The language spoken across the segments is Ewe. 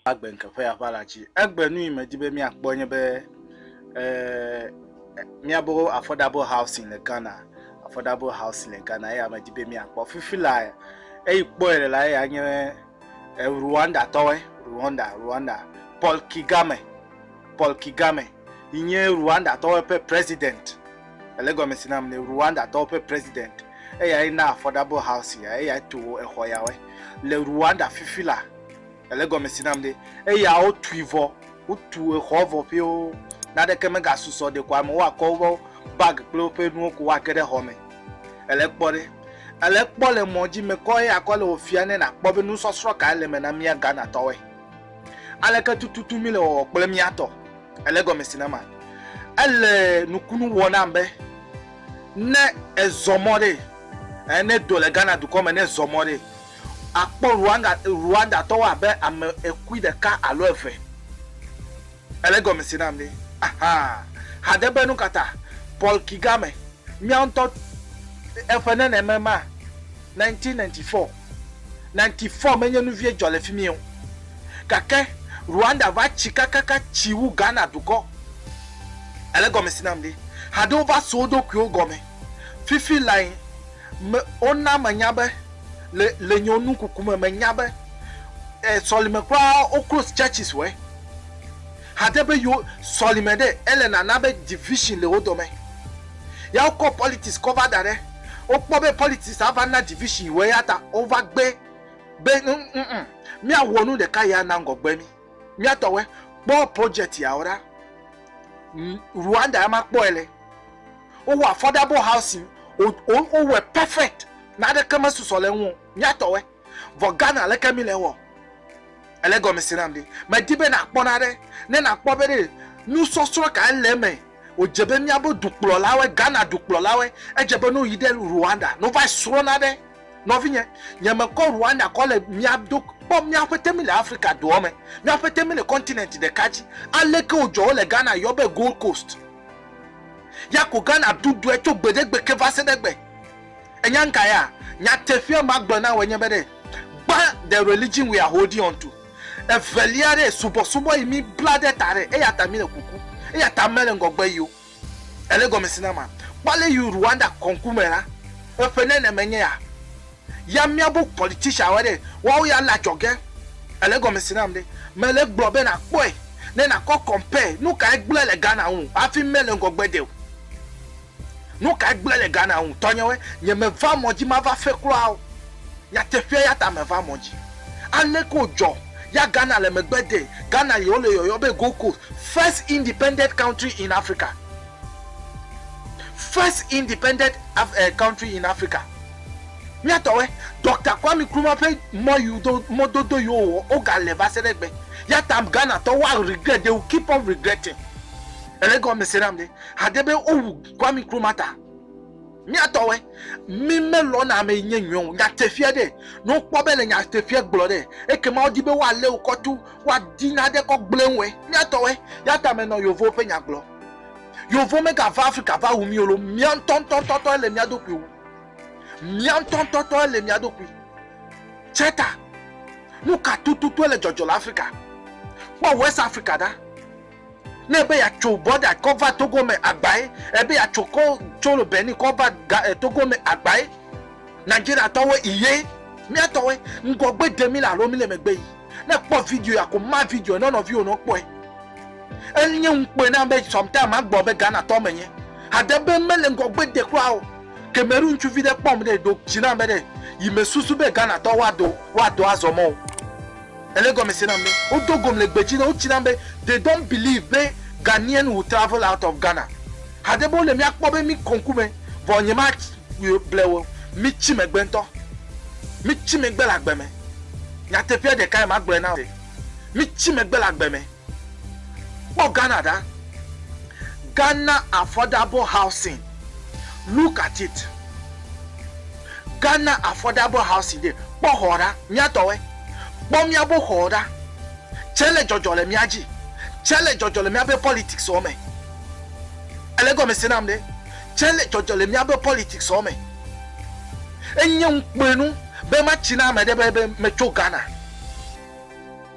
Agbe ŋke ƒe aʋa la dzi. Egbe nu yi me di be mía kpɔ nye be, eh, mía bo affordable housing le Ghana, affordable housing le Ghana eya me di be mía kpɔ. Fifi la eyi kpɔe le la eya nye. Rwanda tɔwɔe, Rwanda, Rwanda, Paul Kigame, Paul Kigame, yi nye Rwanda tɔwɔe ƒe President, ele gɔme si nam ne, Rwanda tɔwo ƒe President, eyae na Affordable House ya, eyae tu exɔ yawɔe, le Rwanda fifi la, ele gɔme si nam ne, eya wo tui vɔ, wo tu exɔ vɔ ƒio, naɖeke mega susɔ ɖeko amewo akɔ woƒe bag kple woƒe nuwo ko woa ge ɖe xɔ me. Èle kpɔ ɖe? Èle kpɔ le mɔ dzi mekɔ eya kɔ le wò fia ne nàkpɔ be nusɔsrɔ̃ kae le eme na mía Ghanatɔwoe? Aleke tututu míle wɔwɔ kple mía tɔ? Èle egɔme si na ma? Ele nukunu wɔ nam be ne èzɔ mɔ ɖee, ɛɛ, ne èdo le Ghana dukɔ me, ne èzɔ mɔ ɖee, àkpɔ Rwanda, Rwandatɔwo abe ame ekui ɖeka alo eve. Ele gɔmesi nam be, aha, hade be nukata Paul Kigame, mía ŋutɔ eƒe neneme ma, 1994, 94 menye nuvie dzɔ le fimie o, gake Rwanda va tsi kakaka tsi wu Ghana dukɔ. Ele gɔmesi nam be, haɖewo va su woɖokuiwo gɔme. Fifi lae me, wona menya be, le, le nye nukuku me, menya be, e, sɔlime kura woklos churches wɛ. Hade be yewo sɔlime ɖe ele nana be division le wo dɔme. Ya wo kɔ politics kɔ va daɖe. Wo kpɔ be politics a va na division wɔ eya ta wo va gbe be nuŋ mía wɔ nu ɖeka ya na ŋgɔgbe mi. Mía tɔwɔe kpɔ project ya wo ɖa. Rwanda ya ma kpɔe le. Wo wɔ affordable housing wo wɔe perfect. Nane ke me susɔ le eŋu o. Mía tɔwɔe. Vɔ Ghana aleke mi le wɔ? Ele gɔme se nam ɖi. Me di be na kpɔ naɖe, ne na kpɔ be ɖe nu sɔsrɔ kae le eme. O dze be mía be dukplɔlawe, Ghana dukplɔlawe, edze be no yi ɖe Rwanda no va yi srɔ naɖe. Nɔvinye, nye me kɔ Rwanda kɔ le mía do, kpɔ mía ƒete mi le Afrika doɔ me, mía ƒete mi le continent ɖeka dzi. Aleke o dzɔ wo le Ghana yɔ be Gold Coast? Ya ko Ghana dudue tso gbeɖegbe ke va se ɖe gbe. Ènya nu ka ya? Nyateƒea magblɔ na wòe nye be ɖe, gbã, the religion we are holding on to, evelia ɖe, subɔsubɔ yi mi bla ɖe ta ɖe, eya ta mi le kuku, eya ta mele ŋgɔgbe yi o. Èle gɔme si na ma? Kpɔ ale yi Rwanda kɔŋku me la, eƒe nenemae nye ya. Ya miabu politicianwo ɖe, woawo ya le adzɔge. Èle gɔme si nam ɖe? Mele egblɔ be nàkpɔe, ne nàkɔ compare nu kae gblẽ le Ghana ŋu hafi mele ŋgɔgbe de o. Nuka gblẽ le Ghana ŋu? Tɔnyewe, nye me va mɔ dzi mava fe kura o. Nyateƒea yata me va mɔ dzi. Aleke wo dzɔ ya Ghana le megbe de Ghana yi wo le yɔyɔ be Gold Coast, first independent country in Africa. First independent country in Africa. Mía tɔwe, Doctor Kwame Nkrumah ƒe mɔ yi do mɔ dodo yi wo wɔ wo ga le va se ɖe gbe. Yata Ghana tɔ woa regret, they will keep on regretting. Ele gɔme se nam ɖe? Hade be wowu Kwame Nkrumah ta. Míatɔwɔe, mí melɔ̃na ame yi nye nyuiɔ ŋu. Nyateƒea ɖe, ne wokpɔ be le nyateƒea gblɔ ɖe, ekema wodi be woalé wò kɔ tu, woadi nane kɔ gblẽ wòe. Míatɔwɔe, ya ta menɔ Yovowo ƒe nya gblɔ. Yovowo megava Afrika va wu mí o loo, mía ŋutɔ ŋutɔtɔe le mía ɖokui wu. Mía ŋutɔ ŋutɔtɔe le mía ɖokui. Tse ta, nu ka tututu ele dzɔdzɔ le Afrika? Kpɔ West Africa ɖa. Ne ebe yatso bɔda kɔ va Togo me agbae, ebe yatso kɔ tso lo Benin kɔ va ga e Togo me agbae, Nigeria tɔwoe iye. Mía tɔwoe, ŋgɔgbe de mí le alo mí le megbe yi. Ne ekpɔ video ya ko ma video nɔ nɔviwo nɔ kpɔe. E nye ŋukpe nam be sometime ma gblɔ be Ghana tɔ me nye. Hade be me le ŋgɔgbe de kura o. Cameroon ŋutsuvi ɖe kpɔm ɖe ɖo dzi nam be ɖe yi me susu be Ghana tɔwo wa do wa do azɔ mɔ o. Ele gɔmese nam be wodo gom le gbe dzi ne wotsi nam be they don't believe be Ghanaian will travel out of Ghana. Haɖe be wole mía kpɔ be mí kɔ ŋkume vɔ nyemaable wo o. Mí tsi megbe ŋutɔ. Mí tsi megbe le agbe me. Nyateƒea ɖekae magblɔe na wò. Mí tsi megbe le agbe me. Kpɔ Ghana ɖa, Ghana Affordable Housing, look at it, Ghana Affordable Housing ɖe, kpɔ xɔ ɖa, míatɔwɔe, kpɔ míabo xɔ ɖa, tsɛ le dzɔdzɔ le mía dzi, tsɛ le dzɔdzɔ le míabe politics wɔ me. Ele egɔme se nam ɖe? Tsɛ le dzɔdzɔ le míabe politics wɔ me. Enye ŋukpenu be matsi na ame ɖe be, be metso Ghana.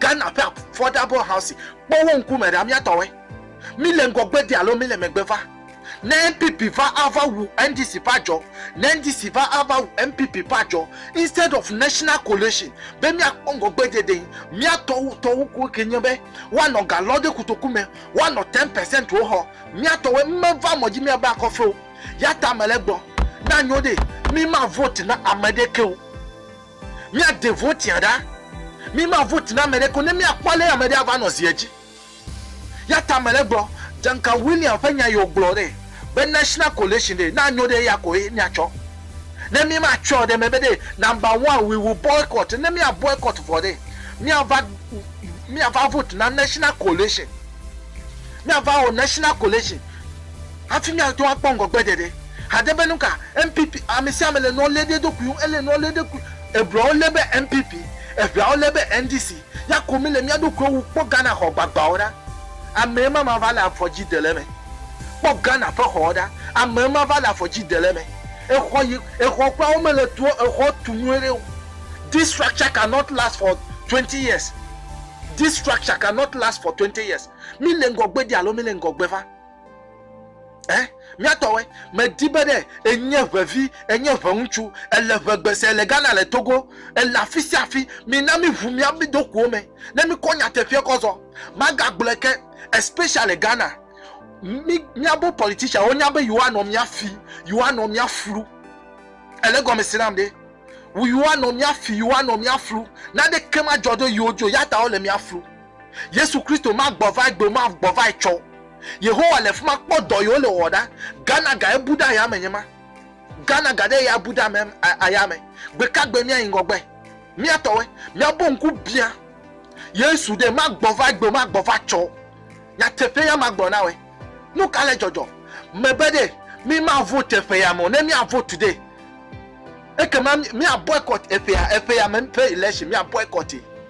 Ghana ƒe Affordable Housing, kpɔ wo ŋkume ɖa, mía tɔwoe. Mí le ŋgɔgbe de alo mí le megbe va? Ne NPP va ava wu NDC ƒe adzɔ, ne NDC va ava wu NPP ƒe adzɔ, instead of national coalition be mía kpɔ ŋgɔgbe dede, mía tɔwo tɔwo koe ke nye be woa nɔ ga lɔ ɖe kotoku me, woa nɔ ten percent wo xɔ. Mía tɔwoe, me va mɔ dzi mía be akɔ fe o. Yata me le gbɔ. Na nyo ɖee, mí ma vote na ameɖe ke o. Míade votia ɖa. Míma vote na ame ɖeke o ne míakpɔ ale ame ɖe ava nɔ zi edzi. Ya ta mele gblɔ, Duncan William ƒe nya yi wògblɔ ɖe, be National Coalition ɖe, na nyo ɖe ya koe míatsɔ. Ne mímatsɔe ɖe mebe ɖe, number one, we will boycott, ne mía boycott vɔ ɖe, míava, míava vote na National Coalition. Míava wɔ National Coalition hafi míate ŋu akpɔ ŋgɔgbeɖeɖe. Hade be nuka NPP ame sia ame le nua lé ɖe eɖokui ŋu, ele nua lé ɖe eɖokui ŋu. Ebloa wo lé be NPP, eŋea wo lé be NDC. Ya ko mi le mia ɖokuiwo wu kpɔ Ghana xɔ gbagbawo ɖa. Amee ma ma va le afɔ dzi de le eme. Kpɔ Ghana ƒe xɔwo ɖa. Amee ma va le afɔ dzi de le eme. Exɔ yi exɔ kura wo me le tua exɔ tu nyuiɖe o. This structure can not last for twenty years. This structure can not last for twenty years. Mi le ŋgɔgbe ɖi alo mi le ŋgɔgbe va? Eh, mía tɔwɔe. Medi be ɖe enye ʋevi, enye ʋeŋutsu, ele ʋegbe se, ele Ghana, le Togo, ele afi sia afi, mina míʋu mía ɖokuiwo me ne míkɔ nyateƒeɛ kɔ zɔ. Magagblɔe ke, especially Ghana, mí, míabo politician, wonya be yewoanɔ mía fi, yewoanɔ mía flu. Èle egɔme se nam ɖe? Wu yewoanɔ mía fi, yewoanɔ mía flu. Naneke madzɔ ɖo yewo dzi o, ya ta wole mía flu. Yesu Kristo ma gbɔ vae gbe o, ma gbɔ vae tsɔ o. Yehowa le fima kpɔ dɔ yi wole wɔwɔ ɖa. Ghana ga ye bu ɖe ayame nye ma. Ghana ga ɖe ye abu ɖe ame ayame. Gbe ka gbe mía yi ŋgɔgbe? Mía tɔwe. Mía bo ŋku bia Yesu ɖe, ma gbɔ vae gbe o, ma gbɔ vae tsɔ o. Nyateƒe ya ma gblɔ na woe. Nu ka le dzɔdzɔ me be ɖe mi ma vote ƒe ya me o? Ne mía vote ɖe, ekema mía boycott eƒe ya, eƒe ya me ƒe election, mía boycott ye.